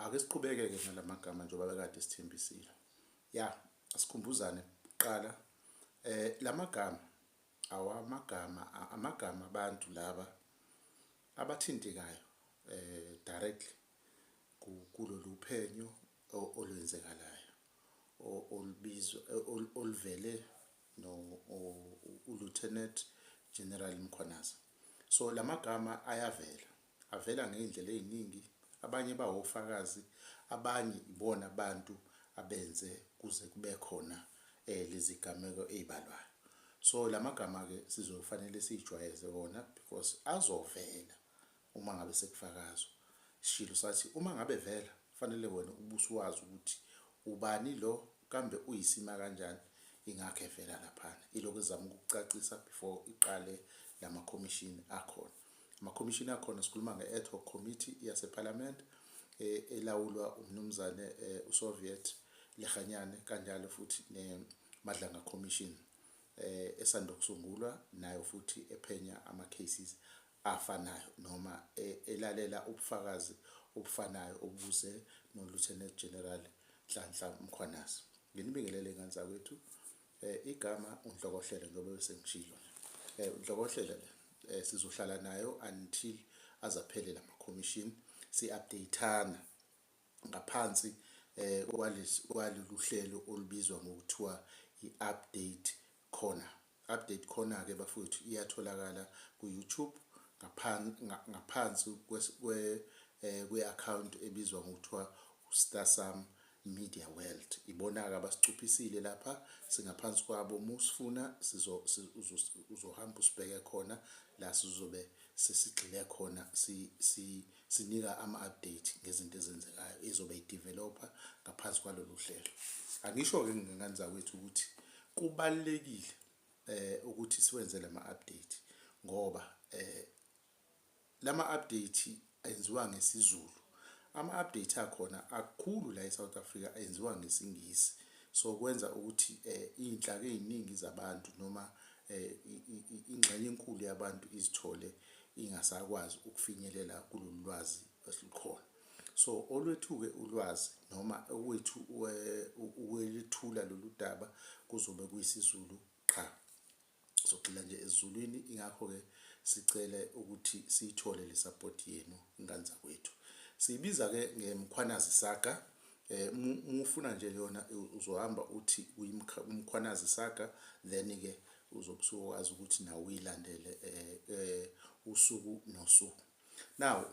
ake siqhubeke-ke nala magama njengoba bekade sithembisile ya asikhumbuzane kuqala eh la magama awamagama amagama abantu laba abathintekayo eh directly kulolu phenyo olwenzekalayo olubizwa oluvele no uLieutenant General Mkhwanazi. So lamagama ayavela, avela ngey'ndlela ey'ningi, abanye bawofakazi, abanye ibona abantu abenze kuze kube khona eh, lezigameko ey'balwayo. So lamagama-ke sizofanele siyijwayeze wona because azovela Uma ngabe sekufakazwa, isishilo sathi uma ngabe vela, kufanele wena ubusuwazi ukuthi ubani lo kambe uyisima kanjani ingakho evela laphana. Ilokhu ezama ukukucacisa before iqale lama commission akhona. Ama commission akhona sikhuluma nge ad hoc committee yase parliament eh, elawulwa umnumzane eh, uSoviet Lehanyane kanjalo futhi ne Madlanga commission eh esanda kusungulwa nayo futhi ephenya ama cases afanayo noma elalela ubufakazi obufanayo obubuzwe noLieutenant General Nhlanhla Mkhwanazi. Nginibingelele ngane zakwethu. Eh, igama uNhlokohlele njengoba bese ngishilo. Eh, uNhlokohlele le eh, sizohlala nayo until azaphelela ama commission si updateana ngaphansi eh kwalesi kwaloluhlelo olubizwa ngokuthiwa iupdate Khona. Update khona ke bafwethu iyatholakala ku YouTube ngaphan ngaphansi kwes kwe eh, kwe account ebizwa ngokuthiwa uStasam Media World. Ibona ke abasicuphisile lapha singaphansi kwabo musifuna sizo sizo- uzohamba usibheke khona la sizobe sesigxile khona si, si, sinika ama-update ngezinto ezenzekayo izobe ideveloper ngaphansi kwalolu hlelo angisho-ke ngengane zakwethu ukuthi kubalulekile eh ukuthi siwenze lama update ngoba eh lama update enziwa ngesiZulu ama update akhona akukhulu la eSouth Africa enziwa ngesingisi so kwenza ukuthi eh inhlaka eziningi zabantu noma eh, ingxenye enkulu yabantu izithole ingasakwazi ukufinyelela kulolu lwazi esilukhona so olwethuke ulwazi noma okwethu ukwelithula lolu daba kuzobe kuyisizulu qha sogxila nje ezulwini ingakho-ke sicele ukuthi siyithole le sapoti yenu ingane zakwethu siyibiza-ke ngemkhwanazi saga eh mufuna nje yona uzohamba uthi umkhwanazi saga then ke uzobusukwazi ukuthi nawe uyilandele eh, eh usuku nosuku now